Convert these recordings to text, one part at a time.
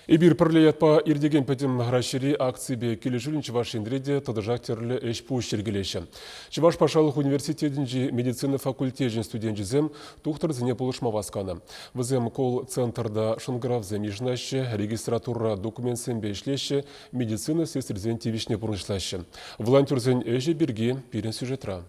Эпир пӗрле ятпа иртекен Пӗтӗм Раҫҫейри акципе килӗшӳлӗн Чӑваш Енре те тӑтӑшах тӗрлӗ ӗҫ-пуҫ йӗркелеҫҫӗ. Чӑваш патшалӑх университетӗнчи медицина факультечӗн студенчӗсем тухтӑрсене пулӑшма васканӑ. Вӗсем колл-центрта шӑнкӑравсем йышӑнаҫҫӗ, регистратура документсемпе ӗҫлеҫҫӗ, медицина сестрисен тивӗҫне пурнӑҫлаҫҫӗ. Волонтерсен ӗҫӗ пирки пирӗн сюжетра.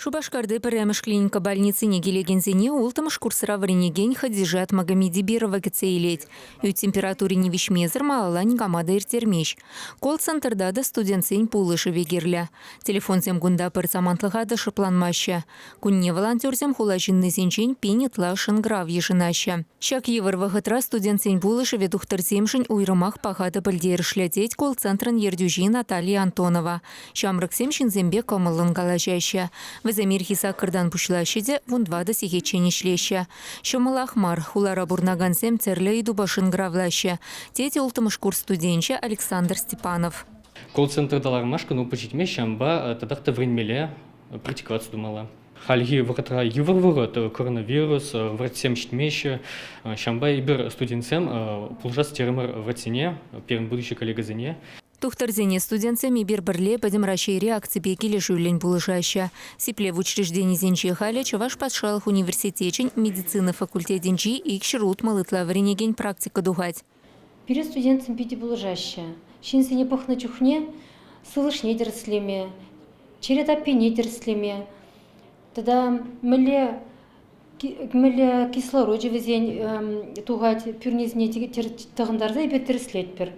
Шупашкарти пӗрремӗш клиника больницине килекенсене улттӑмӗш курсра вӗренекен Хадижат Магомедибирова кӗтсе илет. Ӳт температурине виҫмесӗр малалла никама та ирттермест. Колл-центрта та студентсен пулӑшӑвӗ кирлӗ. Телефонсем кунта пӗр самантлӑха та шӑпланмаҫҫӗ. Кунне волонтерсем хула ҫыннисенчен пин ытла шӑнкӑрав йышӑнаҫҫӗ. Ҫак йывӑр вӑхӑтра студентсен пулӑшӑвӗ тухтӑрсемшӗн уйрӑмах паха та пӗлтерӗшлӗ, тет колл-центрӑн ертӳҫи Наталья Антонова. Ҫамрӑксем ҫынсемпе кӑмӑллӑн калаҫаҫҫӗ. Вӗсем ирхи саккӑртан пуҫлаҫҫӗ те вун тӑватӑ сехетчен ӗҫлеҫҫӗ. Ҫӑмӑлах мар, хулара пурӑнакансем тӗрлӗ ыйтупа шӑнкӑравлаҫҫӗ, тет улттӑмӗш курс студенчӗ Александр Степанов. Колл-центра аталанмашкӑн опыт ҫитме ҫавӑнпа татах та вӗренмелле, практиковаться тумалла. Хальхи вӑхӑтра йывӑр вӑхӑт, коронавирус, врачсем ҫитмеҫҫӗ. Ҫавӑнпа эпир, студентсем, пулӑшас терӗмӗр врачсене, пирӗн будущи коллегӑсене. Тухтӑрсене студентсем эпир пӗрле Пӗтӗм Раҫҫейри акципе килӗшӳллӗн пулӑшаҫҫӗ. Сиплев учрежденисенче халӗ Чӑваш патшалӑх университечӗн медицина факультетӗнчи икҫӗр утмӑл ытла вӗренекен практика тухать. Пире студентсем питӗ пулӑшаҫҫӗ. Ҫынсене пӑхнӑ чухне сывлӑшне тӗрӗслеме, чӗре таппине тӗрӗслеме тата мӗнле Кӗмӗле кислорочӗ вӗсен тухать, пӳрнесене тӑхӑнтарса эпир тӗрӗслетпӗр.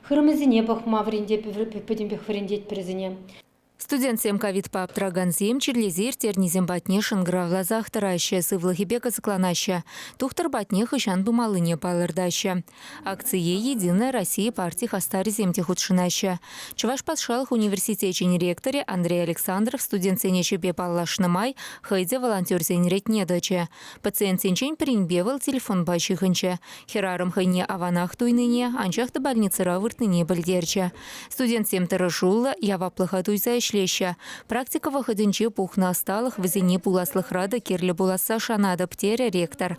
Хырӑмӗсене пӑхма вӗрентеп, пӗтӗмпех вӗрентетпӗр вӗсене. Студентсем ковидпа аптӑракансем чирлесе ирттернисем патне шӑнкӑравласах тӑраҫҫӗ, сывлӑхӗпе кӑсӑкланаҫҫӗ, тухтӑр патне хӑҫан пымаллине палӑртаҫҫӗ. Акцие «Единая Россия» парти хастарӗсем те хутшӑнаҫҫӗ. Чӑваш патшалӑх университечӗн ректорӗ Андрей Александров студентсен ӗҫӗпе паллашнӑ май хӑй те волонтерсен ретне тӑчӗ. Пациентсенчен пӗринпе вӑл телефонпа ҫыхӑнчӗ. Хӗрарӑм хӑйне аванах туйнине, анчах та больницӑра выртнине пӗлтерчӗ. Студентсем тӑрӑшуллӑ, яваплӑха туйса ӗҫлеҫҫӗ. Практика вӑхӑтӗнче пухнӑ ӑсталӑх вӗсене пуласлӑхра та кирлӗ пуласса шанатӑп, терӗ ректор.